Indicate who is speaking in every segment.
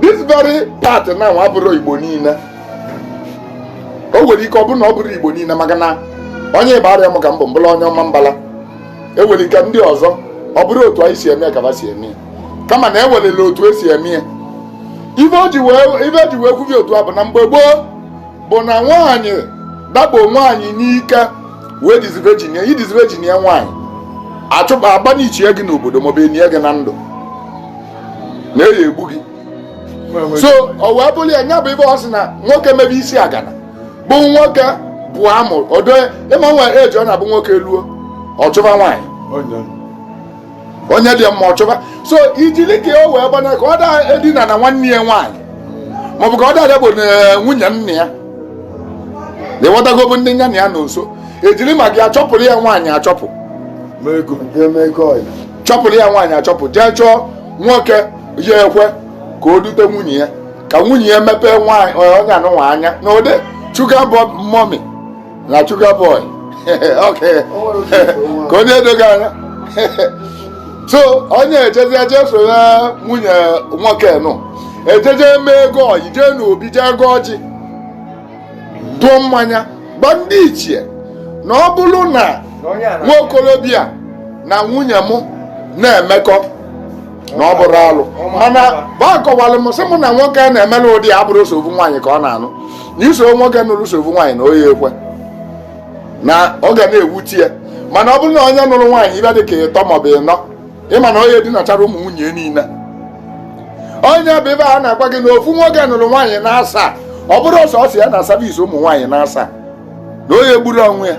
Speaker 1: this very part now abụrọ igbo niile o nwere ike ọ bụrụ na ọ bụrọ igbo niile maka na onye igbariam ka m bụ m bụrụ onye ọmambala e nwere ike ndị ọzọ ọ bụrụ otu anyị si eme ka ha si eme kama na ewerela otu esi eme ya ife e ji wee kwubi otu a bụ na mgbe gboo bụ na nwaanyị dakpo nwaanyị n'ike wee disvirgin ya ị disvirgin ya nwaanyị achụba abanishie gị n'obodo maọbụ enie gị na ndụ na a ya-egbu gị so ọ wee bụrụ ya nya bụ ife ọ sị na nwoke mebe isi agana bụ nwoke bụ amụ odo ịma nwa eji ọ na-abụ nwoke luo ọ chụba nwaanyị onye dị mma ọ chụba so ijili ka o wee gbana ka ọ da edina na nwanne ya nwaanyị maọbụ ka ọ dada bụ eh, nwunye nna ya ịghọtagobu ndị nya na ya nọ nso ejiri maka ya achọpụrụ ya nwaanyị achọpụ chọpụrụ ya nwaanyị achọpụ jee chọọ nwoke ya-ekwe ka o dute nwunye ya ka nwunye ya mepee nwaanyị onye anụnwa anya na ụdị sugar mummy na sugar boy ka o wee doo gị anya so onye ejezie jeso ya nwunye nwoke nụ ejeje mee ego ọyị jee n'obi jee gọọ ọjị tụọ mmanya gwa ndị ichie na ọ bụrụ na nwa okorobịa na nwunye m na-emekọ na ọ bụrọ alụ mana ba kọwalụ m sị mụ na nwoke a na-emela ụdị a abụrọ sọ ofu nwaanyị ka ọ na-anụ na iso nwoke nụrụ sọ ofu nwaanyị na ọ ya-ekwe na ọ ga na-ewuti ya mana ọ bụrụ na onye nụrụ nwaanyị ife dị ka ịtọ maọbụ ịnọ ị ma na ọ ya-edinachara ụmụ nwunye niile nya bụ ife a na-agwa gị na ofu nwoke nụrụ nwaanyị na asaa ọ bụrụ sọsọ ya na-service ụmụ nwaanyị na asaa na ọ ya-egburu onwe ya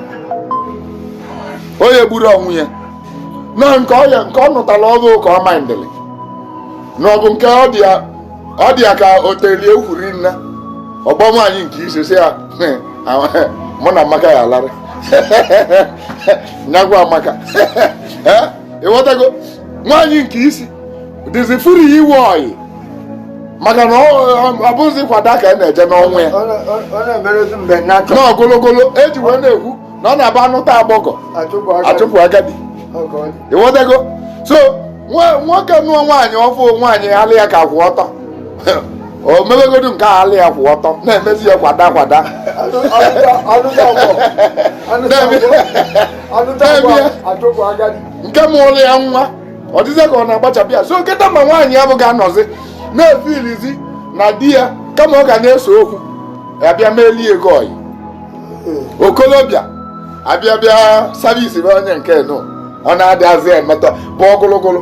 Speaker 1: na nke ọya nke ọ nụtara ọfụ ka ọ mindịrị na ọ bụ nke ọ dị ya- ọ dị ya ka o telie ukwuri nne ọgbọ nwaanyị nke isi sị ya mụ na amaka ya alara nyagwa amaka ịghọtago nwaanyị nke isi dịzi free iwe ọyị maka na ọ bụzi kwada ka a na-eje n'ọnwa ya na ogologolo eji wee na-ekwu na ọ na-abụ anụta agbọgọ achụpụ agadi ịghọtago so nwoke nụọ nwaanyị ọfụ nwaanyị ala ya ka kwụ ọtọ o mewegodu nke a ala ya kwụ ọtọ na-emezi ya kwada kwada nke mụlụ ya nwa ọ dịzị ka ọ na-agbachapụ ya so kịta ma nwaanyị ya bụ ga-anọzi na-efilizi na di ya kama ọ ga na-ese okwu abịa melie ego ọyị okolobịa abịa bịa service bụ onye nke nụ ọ na-adịzị emetọ bụ ọgụlụgụlụ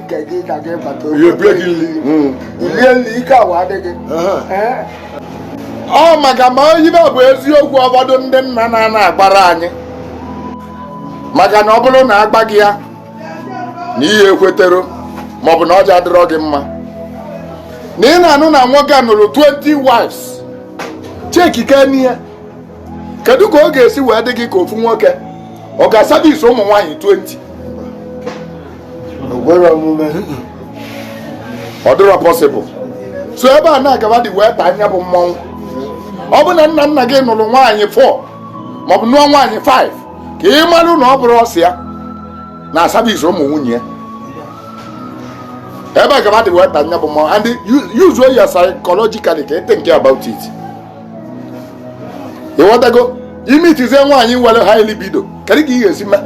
Speaker 1: ọ maka ma ibe bụ eziokwu ụfọdụ ndị nna nna na-agbara anyị maka na ọ bụrụ na agbaghị ya na ihe ekwetero maọbụ na ọja adịrọ gị mma na ị na-anụ na nwoke nụrụ 20 wives chekike n'ihe kedu ka ọ ga-esi wee dị gị ka ofu nwoke ọ ga-aservice ụmụ nwaanyị 20 ọ dịrọ possible so ebe a na-agaba dị wee taa anya bụ mmọnwụ ọ bụ na nna nna gị nụrụ nwaanyị 4 maọbụ nụọ nwaanyị 5 ka ị marụ na ọ bụrọ sọ ya na-aservice ụmụ nwunye ya ebe a gaba dị wee taa anya bụ mmọnwụ and use your psychologically ka ị think about it ịghọtago ị meetizie nwaanyị nwere high libido kedu ka ị ga-esi mee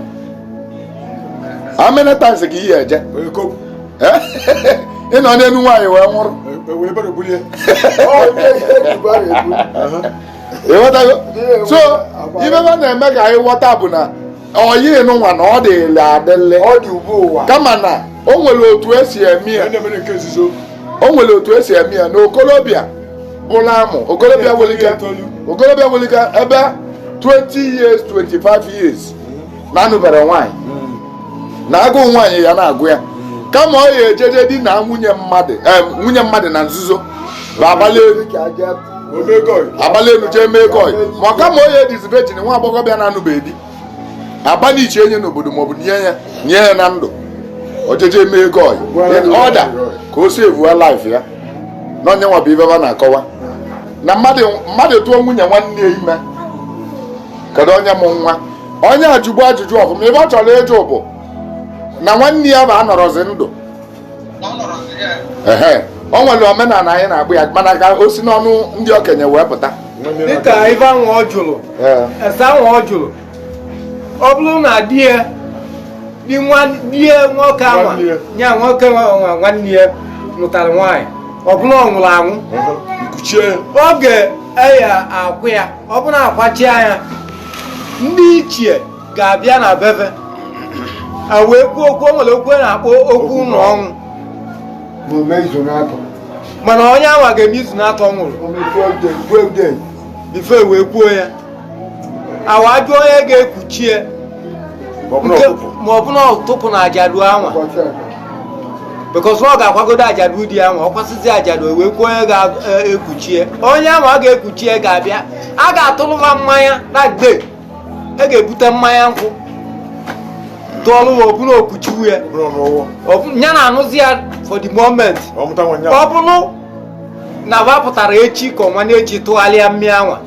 Speaker 1: how many times ka ị ya eje ị nọ n'elu nwaanyị wee nwụrụ ịghọtago so ibe na-eme ka anyị ghọta bụ na ọyị nụnwa na ọ dịlị adịlị ọ dị ugbu ụwa kama na o nwere otu esi eme ya o nwere otu esi eme ya na okorobịa bụla amụ okorobịa nwere ike okorobịa nwere ike ebe 20 years 25 years na-anụberọ nwaanyị hmm. na agụụ nwaanyị ya na-agụ ya kama ọ ya ejeje dina nwunye mmadụ eh, nwunye mmadụ na nzuzo bụ abalị abalị elu jee mee koi ma ọ kama ọ ya edizi virgin nwa agbọghọbịa na-anụbeghị di abalị iche enye n'obodo maọbụ nye ya nye ya na ndụ o jeje mee koi ọda ka o si evuwa life ya na onye nwa bụ ibe ba na-akọwa na mmadụ tụọ nwunye nwanne ya ime kedu onye mụ nwa onye a jụbu ajụjụ ọfụ ma ibe ọ chọrọ ịjụ bụ na nwanne ya bụ anọrọzi ndụ ehe o nwere omenala anyị na-agbụ ya mana ka o si n'ọnụ ndị okenye wee pụta dịka ife
Speaker 2: ahụ ọ jụrụ ese ahụ ọ jụrụ ọ bụrụ na di ya di nwoke anwa ya nwoke nwanne ya nụtara nwaanyị ọ bụrụ ọ nwụrụ anwụ oge e ya akwa ya ọ bụrụ a kwachia ya ndị ichie ga-abịa na be ya wee kwuo okwu o nwere okwu a na-akpọ okwu ụlọ ọnwụ na-eme izu n'atọ mana onye anwa ga-eme izu n'atọ nwụrụ omekwuo ude kwuo ude ife wee kwuo ya a wa ajụ onye ga-ekuchie nke ma ọ bụ na ọtụpụ na ajadu anwa ụbọchị atọ because ọ ga-akwagodo ajadu di anwa ọ kwasịzị ajadu wee kwuo onye ga-ekuchie onye anwa ga-ekuchie ga-abịa a ga-atụrụ ha mmanya na gbe e ga-ebute mmanya nkwụ tụọlụ ya ọ bụ na o kuchiwo ya ya na-anụzi ya for the moment ọ bụrụ na ba pụtara echi ka ọ nwanne echi tụgharịa mmịa anwa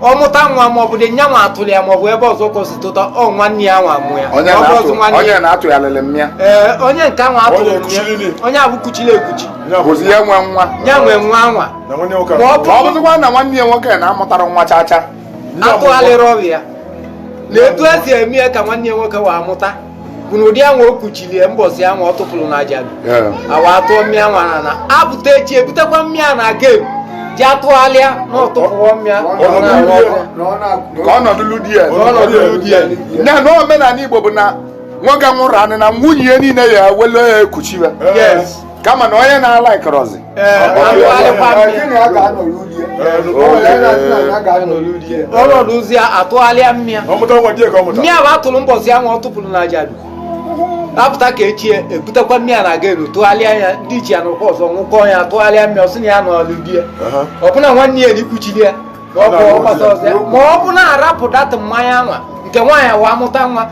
Speaker 2: ọ mụta nwa ma ọ bụ di ya nwa atụrụ ya ma ọ bụ ebe ọzọ ka o si tụta ọ nwanne ya nwa mụ ya
Speaker 1: onye na-atụgharịrị mmịa ee onye nke
Speaker 2: nwa atụrụ mmịa onye ahụ kuchiri ekuchi ya nwe nwa
Speaker 1: ya nwe nwa nwa
Speaker 2: ma ọ
Speaker 1: bụzikwa na nwanne ya nwoke na-amụtara nwa chacha
Speaker 2: atụgharịrụ ya na etu e si eme ya ka nwanne ya nwoke nwa mụta bụ na ụdị anwa o kuchiri ya mbọsị anwa ọ tụpụrụ na ajadu anwa atụọ mmịa nwa na na apụta echi ebutekwa mmịa na ga-eji atụgharịa na ọ tụpụọ
Speaker 1: mmịa ka ọ nọdụlụ di ya ya na omenala Igbo bụ na nwoke nwụrụ anwụ na nwunye ya niile ya wele ya ekuchiwe kama na onye
Speaker 2: na-alaịkịrọzi ọnọdụ ọ sị atụgharịa mmịa mmịa bụ atụrụ mbọsị ahụ ọ tụpụrụ na ajadu apụta ka echi ebutekwa mmịa na a ga-ewelu tụgharịa ya ndị ichie anọkọọ ọzọ ṅụkọọ ya tụgharịa mmịa ọ sị na ya nọlụ di ya ọ bụ na nwanne ya nwa kuchiri ya ma ọ bụ na arapụ datụ mmanya nwa nke nwaanyị nwa amụta nwa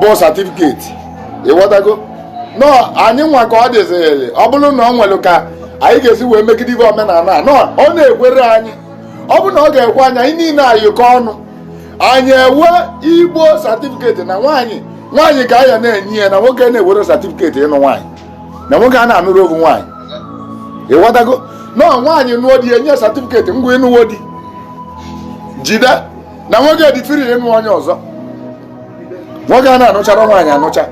Speaker 1: bụ certificate ị ghọtago na anyị nwa ka ọ dịzịrị ọ bụrụ na ọ nwere ka anyị ga-esi wee megide ibe omenala a nọ ọ na-ekwere anyị ọ bụrụ na ọ ga-ekwe anyị anyị niile ayịkọ ọnụ anyị enwee Igbo certificate na nwaanyị nwaanyị ka anyị na-enye ya na nwoke na-ewere certificate ịnụ nwaanyị na nwoke a na-anụrụ ovu nwaanyị ị ghọtago na nwaanyị nụọ di e nye certificate ngwa ị nụwo di jide na nwoke dị free ịnụ onye ọzọ nwoke a na-anụchara nwaanyị anụcha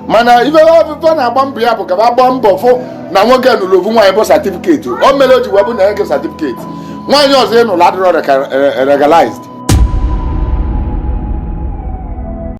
Speaker 1: mana ife afụ fa na-agba mbọ ya bụ ka ba gbaa mbọ fụ na nwoke nụrụ ofu nwaanyị bụ certificate o mere o ji wee bụ na nke certificate nwaanyị ọzọ ị nụrụ adịrọ legalized